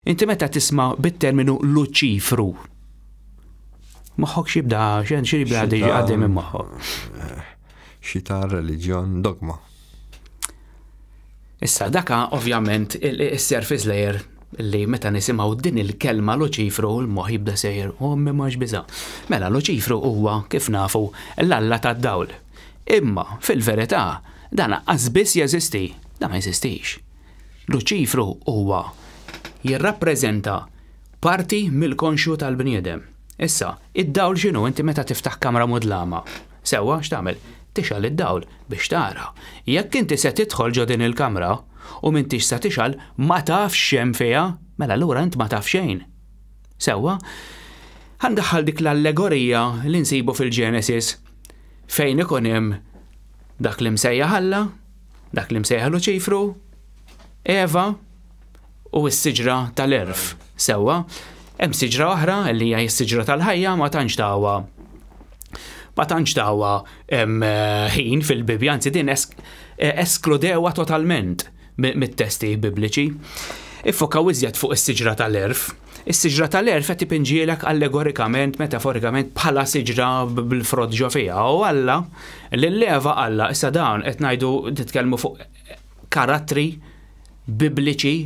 Inti meta tisma' bit-terminu Luċifru, moħħok x'jibda x'hemm xi jibda għaddej minn moħħok. Xi ta' reliġjon dogma. Issa daka ovvjament is-surface layer li meta nisimgħu din il-kelma Luċifru l-moħħ jibda sejjer u oh, ma biża. Mela Luċifru huwa kif nafu l-alla tad-dawl. Imma fil-verità dan qas biss jeżisti, dan ma jeżistix. Luċifru huwa jirrappreżenta parti mill-konxju tal-bniedem. Issa, id-dawl x'inhu? Inti meta tiftaħ kamra mudlama, sewwa x'tagħmel? Tixgħal id-dawl biex tara. Jekk inti se tidħol ġo din il-kamra u m'intix se tixgħal, ma tafx x'hemm fiha, mela allura int ma taf xejn. Sewwa? Ħa ndaħħal dik l-allegorija li nsibu fil-Genesis fejn ikun hemm dak li msejjaħ Alla, Dak li msejħa Luċifru, Eva u s-siġra tal-erf. Sewwa, hemm siġra oħra li hija s-siġra tal-ħajja ma tantx tawa ma tantx tawa ħin fil-Bibbja, anzi din eskludewa totalment mit-testi bibliċi. Iffokaw iżjed fuq is-siġra tal-erf. Is-siġra tal-għerf qed ipinġielek allegorikament, metaforikament, bħala siġra bil-frott ġo fiha. U Alla, lil Eva Alla, issa dawn qed ngħidu nitkellmu fuq karattri Bibliċi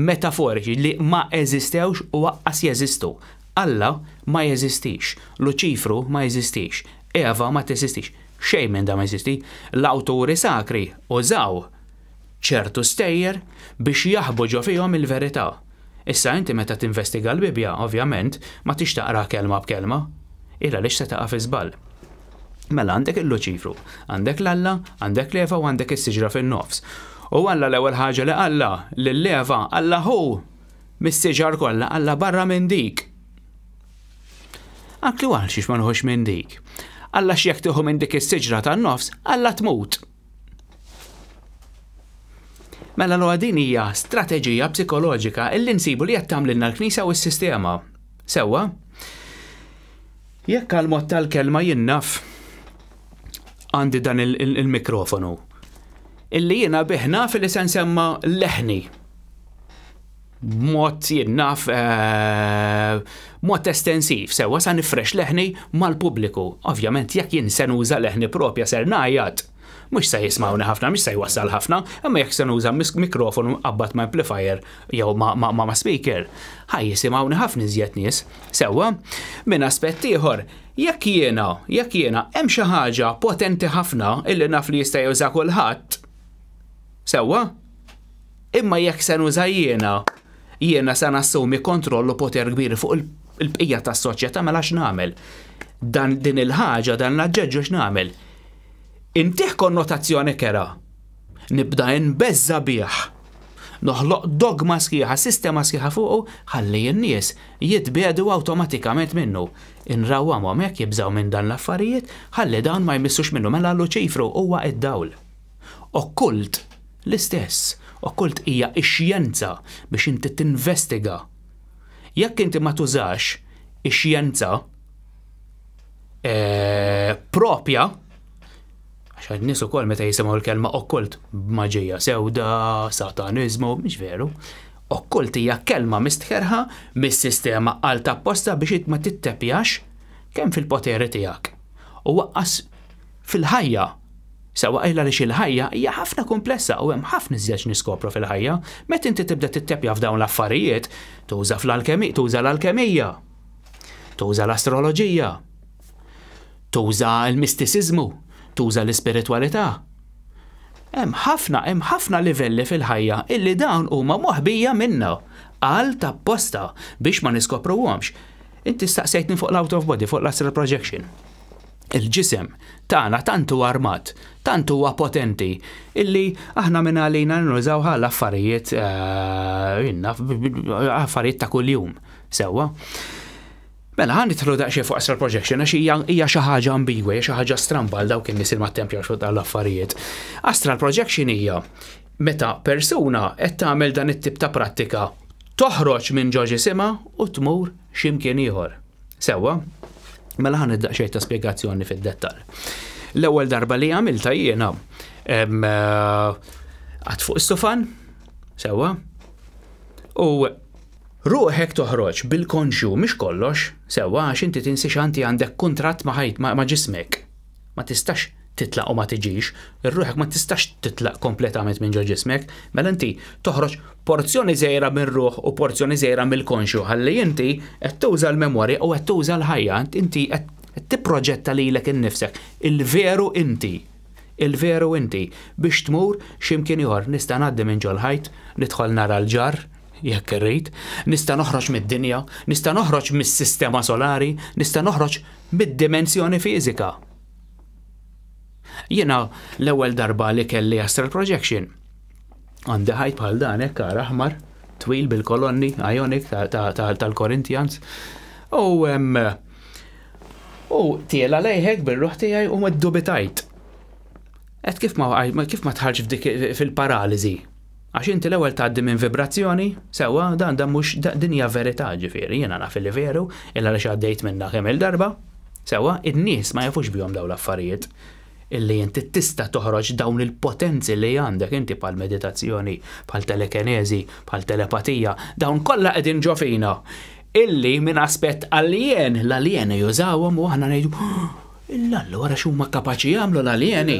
metaforiċi li ma eżistewx u aqqas jeżistu. Alla ma jeżistix, Luċifru ma jeżistix, Eva ma teżistix, xejn minn dan ma jeżisti. L-awturi sakri użaw ċertu stejjer biex jaħbu ġo fihom il-verità. Issa inti meta tinvestiga l-Bibbja, ovvjament, ma tridx taqraha kelma b'kelma. Illa għaliex se taqa' fi żball. Mela għandek il-Luċifru, għandek l-Alla, għandek l-Eva u għandek is-siġra fin-nofs. U Alla l-ewwel ħaġa li qalla lill-Eva, Alla hu mis-siġar kollha, Alla barra minn dik. Anki għal xiex ma nħux minn dik. Alla x'jekk tieħu minn dik is-siġra tan-nofs, Alla tmut. Mela l din hija strateġija psikoloġika illi nsibu li qed tagħmlilna l-Knisja u s-sistema. Sewwa? Jekk għal mod tal-kelma jinnaf għandi dan il-mikrofonu. Illi jiena biħna fil-li se nsemma leħni. mod jien naf eh, mod estensiv, sewa sa nifrex leħni mal-pubbliku. Ovvjament jekk jien se nuża leħni propja ser ngħajjat. Mhux se jismawni ħafna, mhux se jwassal ħafna, imma jekk se nuża mikrofonu qabad ma' amplifier jew ma' speaker, ħaj jisimgħuni ħafna iżjed nies. Sewwa, minn aspett ieħor, jekk jiena, jekk jiena hemm xi ħaġa potenti ħafna illi naf li jista' juża kulħadd. Sewwa? Imma jekk se nuża jiena, jiena se nassumi kontroll u poter kbir fuq il-bqija tas-soċjetà mela x'nagħmel? Dan din il-ħaġa, dan l-aġġeġġu x'nagħmel? Intih konnotazzjoni kera. Nibda inbeżża' bih. Noħloq dogma sħiħa, sistema sħiħa fuqu, ħalli n-nies jitbiegħdu awtomatikament minnu. Inrawwamhom hekk jibżgħu minn dan l-affarijiet, ħalli dawn ma jmissux minnu. Mela Luċifru huwa d-dawl. Okkult, l-istess, okkult hija x-xjenza biex inti tinvestiga. Jekk inti ma tużax ix-xjenza eh, propja, għax nies ukoll meta jisimgħu l-kelma okkult b'maġija sewda, sataniżmu, mhix veru. Okkult hija kelma mistħerħa mis-sistema għal tapposta biex ma tittepjax kemm fil-poteri tiegħek. U waqqas fil-ħajja, sewwa qajla għaliex il-ħajja hija ħafna kumplessa u hemm ħafna iżjed x'niskopru fil-ħajja, meta inti tibda titteppja f'dawn l-affarijiet, tuża fl-alkemi, tuża l-alkemija, tuża l-astroloġija, tuża l-mistisiżmu, tuża l-ispiritwalità. Hemm ħafna, hemm ħafna livelli fil-ħajja illi dawn huma moħbija minna, għal tapposta biex ma niskopruhomx. Inti staqsejtni fuq l-out of body, fuq l-astral projection. Il-ġisem tagħna tant hu armat, tant huwa potenti, illi aħna minn għalina nużaw għal affarijiet eh, affarijiet ta' kuljum. Sewwa. Mela, għan nitħlu daqxie fuq astral projection, għax hija xi ħaġa ambigwa, hija xi ħaġa stramba għal dawk in-nies il ma tempja xogħol tal-affarijiet. Astral projection hija meta persuna qed tagħmel dan it-tip ta' prattika toħroġ minn ġoġi sima u tmur x'imkien ieħor. Sewwa, mela ħan id-daqxej ta' spiegazzjoni fid-dettal. L-ewwel darba li għamilta jiena għad fuq is-sofan, sewwa, u ruħek toħroġ bil-konxju mhix kollox, sewwa għax inti tinsi xanti għandek kuntratt ma' ħajt ma' ġismek. ma tistax titlaq u ma tiġix, ruħek ma tistax titlaq kompletament minn ġo ġismek, mela inti toħroġ porzjoni żgħira mir-ruħ u porzjoni żgħira mill-konxju ħalli inti qed tuża l-memorja u qed tuża l-ħajja, inti qed tipproġetta lilek innifsek, il-veru inti, il-veru inti, biex tmur xi mkien ieħor. Nista' ngħaddi minn ġol-ħajt, nidħol nara l-ġarr, jekk irrid, nista' noħroġ mid-dinja, nista' noħroġ mis-sistema solari, nista' noħroġ bid-dimensjoni fiżika. Jiena l-ewwel darba li kelli astral projection għandi ħajt bħal dan hekk għar aħmar, twil bil-kolonni, ionic tal-Corinthians. U u tiela lejħek bir-ruħ tiegħi u ma ddubitajt. Qed kif ma kif ma tħarġ f'dik fil-paraliżi. Għax inti l-ewwel tgħaddi minn vibrazzjoni, sewwa, dan dan mhux din hija verità, ġifieri, jiena naf li veru, illa għaliex għaddejt minnha kemm-il darba, sewwa, in-nies ma jafux bihom dawn l-affarijiet, illi inti tista' toħroġ dawn il-potenzi li għandek inti bħal meditazzjoni, bħal telekeneżi, bħal telepatija, dawn kollha qegħdin ġo fina, illi minn aspett alien, l-alieni jużawhom u aħna ngħidu, illa allura x'huma kapaċi jagħmlu l-alieni?